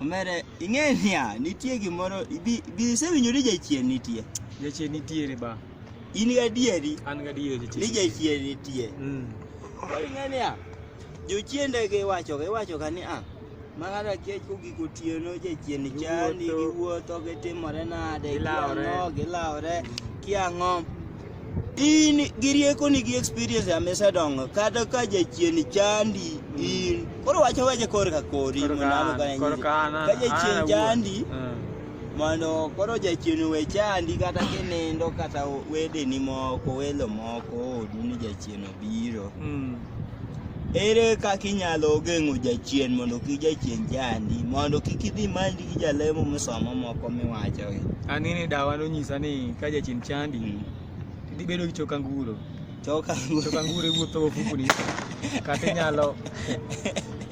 Omere, ing'e niya, nitie gimoro, ibi, ibi isewinjo ni jachien nitie. Jachien nitiere ba. In gadieri An gadier ni jachien. jachien nitie. Mm. Koro ing'e niya, jochiende giwachoga, iwachoga ni a, ma ng'ato akiech kogik otieno, jachien chandi, Giwuotho. giwuotho, gitimore nade, Gilawore. giang'o, gilawore, kiang'o. in gi riekoni gi experience ya misedongo kata ka jachien chandi in koro wacho weche kor ka kori Koro mondo ka an an, okane koro nyisi. ka an, an, ka jachien an awuon. chandi Mm. mondo koro jachien we chandi kata kinindo kata wedeni moko welo moko odu ni jachien obiro Mm. Ere kaka inyalo geng'o jachien mondo kik jachien chandi mondo kik idhi manji gi jalemo misomo moko miwachogi? An ni dawa nonyisa ni ka jachien chandi hmm. idhi bedo gi choka nguro. Choka nguro. Choka nguro iwuotho ofukuni. Kata inyalo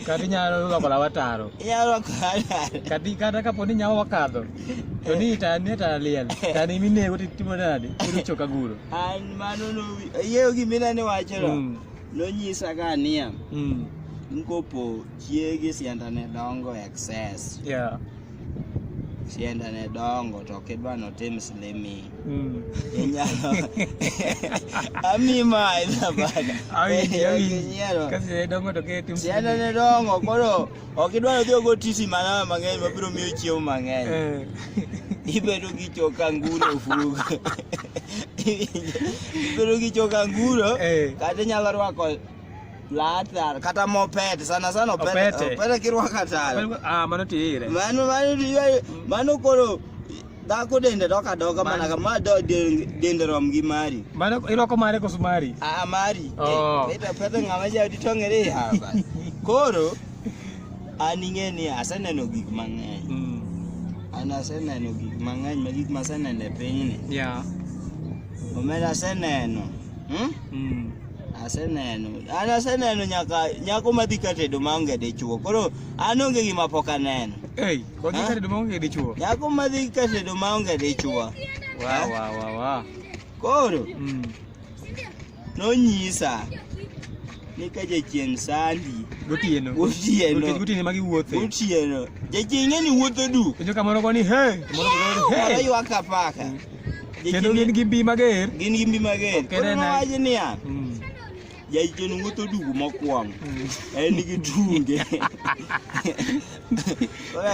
kata inyalo loko lawa taro. Inyalo loko lawa taro. Kata kata kapo ni nyawo wakadho. To ni ta ni ta liel. Ta ni minego titimo nade? Iwuotho choka nguro. Mano no ayeyo gima inene wacheno. Mm. Nonyisa ka niya. Mm. Nkopo chiegi sianda ne dongo excess. Yeah. Sianda ne dongo to kidwa no tim slimi. Mm. Inyalo. Ami ma ina bana. Awi, awi. Kasi ne dongo to ke tim slimi. Sianda ne dongo koro. Ok idwa ni odhi ogo tisi manama mang'eny mabiro miyo chiemo mang'eny. Eh. Ibedo gi choka nguro ofugo. Ibedo gi choka nguro eh. kata inyalo rwako Plata, kata mopete sana sana opete, opete kirwaka tala. Ah, mano tire. Mano mano mano koro Dhako dende dok adoka mana ka ma do- de- dende rom gi mari. Mano irwako mare koso mari? Ah mari. Oh. Eh, Peta peta ng'ama ja di tongere ya bas. Koro an ing'e ni aseneno gik mang'eny. Mm. An aseneno gik mang'eny ma gik maseneno e pinyni. Yeah. Omera aseneno. Hmm? Mm. Aseneno. An aseneno nyaka nyako madhi ka tedo maonge dichwo. Koro an onge gima pok aneno. Hey. Kwa kisa duma onge dichuo. Nyako madhi kase duma onge dichuo. Wa wa wa wa. Koro. Mm. Nonyisa ni ka jachien sandi gotieno gotieno gotieno magi wuothe gotieno jachien ng'eni wuotho du penjo kamoro go ni he moro go he moro ywak apaka mm. kendo gin gi mbi mager gin gi mbi mager kendo wacho niya mm. Jaichien wuotho dugu mokwongo. En gi tunge.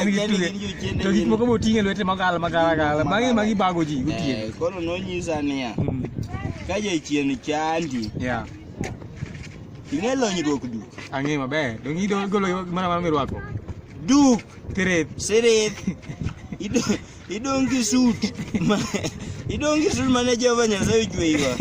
En gi tunge. To gik moko moting'e lwete magala magala gala. Magi magi bago ji gotieno. Eh, koro nonyisa niya, hmm. ka jaichien chandi. Yeah. Ing'e lonyruok duk. Ang'e maber. Donge idogolo mana mana mirwako. Duk. Tirith. Sirith. Idongi suit. Idongi suit mane Jehova Nyasaye ochweyiwa.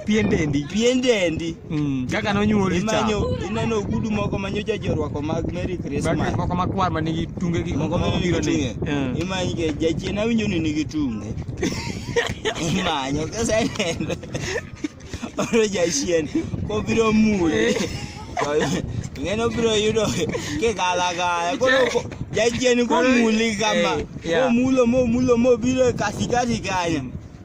Pien dendi. Pien dendi. Mm, kaka nonyuoli cha. Imanyo ineno ogudu moko manyo jaji orwako mag Merry Christmas. Bag moko makwar ma nigi tunge gi moko ma biro ni. Mm. Imanyo ke jachien awinjo ni nigi tunge. Imanyo kasa neno. oro jachien kobiro mule ng'eno biro yudo kigalagala koro jachien komuli kama momulo momulo mobiro e katikati kanyo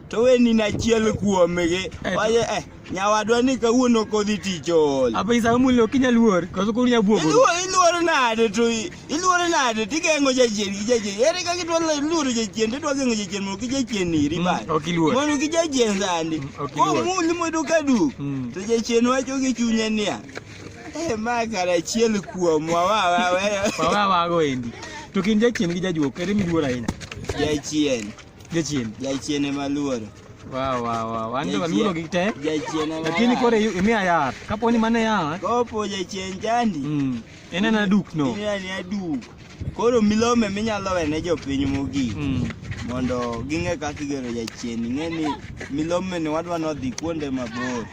to weni nachiel kuomgi waje eh nyawadwa ni kawuono kodhi tich ool. Apa isa mulo kinya luor, koso kunya buogo. Iluor nade to Iluore nade tigeng'o jachien gi jachien. Ere kaka idwa luoro jachien tidwa geng'o jachien mondo kik jachien iri mm, bang'. Ok iluor. Mondo kik jachien sandi. Mm, ok iluor. Komuli mondo ka duk. Mm. To jachien wacho gi chunye niya. Eh ma kara achiel kuomwa wa wa wa. Wa wa wa go endi. To kin jachien gi jajuok ere miluor ahinya? Jachien. Jachien. Jachien ema luoro. Wow, wow, wow. An to aluoro gi te. Jachien ema. Lakini kore imiya yath. Kapo ni mane yath. Kopo jachien chandi. Mm. En en aduk no. Ina ni adu. Koro milome minyalo wene jopiny mogik Mm. mondo ging'e kaka igero jachien. Ing'e ni milome ni wadwa nodhi kuonde mabor.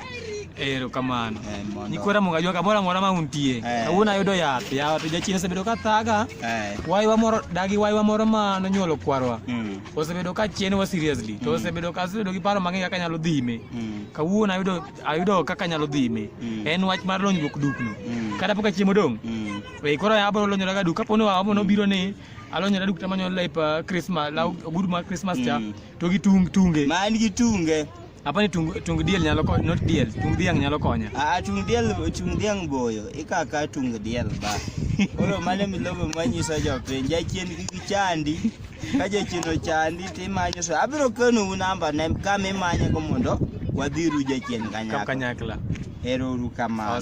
Ero kamano. Eh, mondo- Nikwera munga jwa kamora mora ma untie. Eh. Kawuono ayudo yath. Yawa to jachien osebedo ka thaga. Eh. Waywa moro dagi waywa moro ma nonyuolo kwarwa. Mm. Osebedo ka chien wa seriously. To osebedo ka osebedo gi paro mang'eny kaka nyalo dhime. Mm. Kawuono ayudo ayudo kaka nyalo dhi ime mm. en wach mar lonyruok dukno mm. kata pok achiemo dong mm. e koro abro lonyora ga duk kapo ni wamo mm. nobiro ni alonyora duk tamanyo lep uh, christmas la mm. ogudu mar christmas cha mm. to gi tung tunge man gi tunge apa ni tung tung diel nyalo ko not diel tung diang nyalo konya a tung diel tung diang boyo ikaka tung diel ba oro mane milobo manyiso jopiny jachien gi chandi kaje chino chandi timanyo so abiro kano u namba ne kama imanyago mondo wadhiru jachien kanyakla ero uru kamano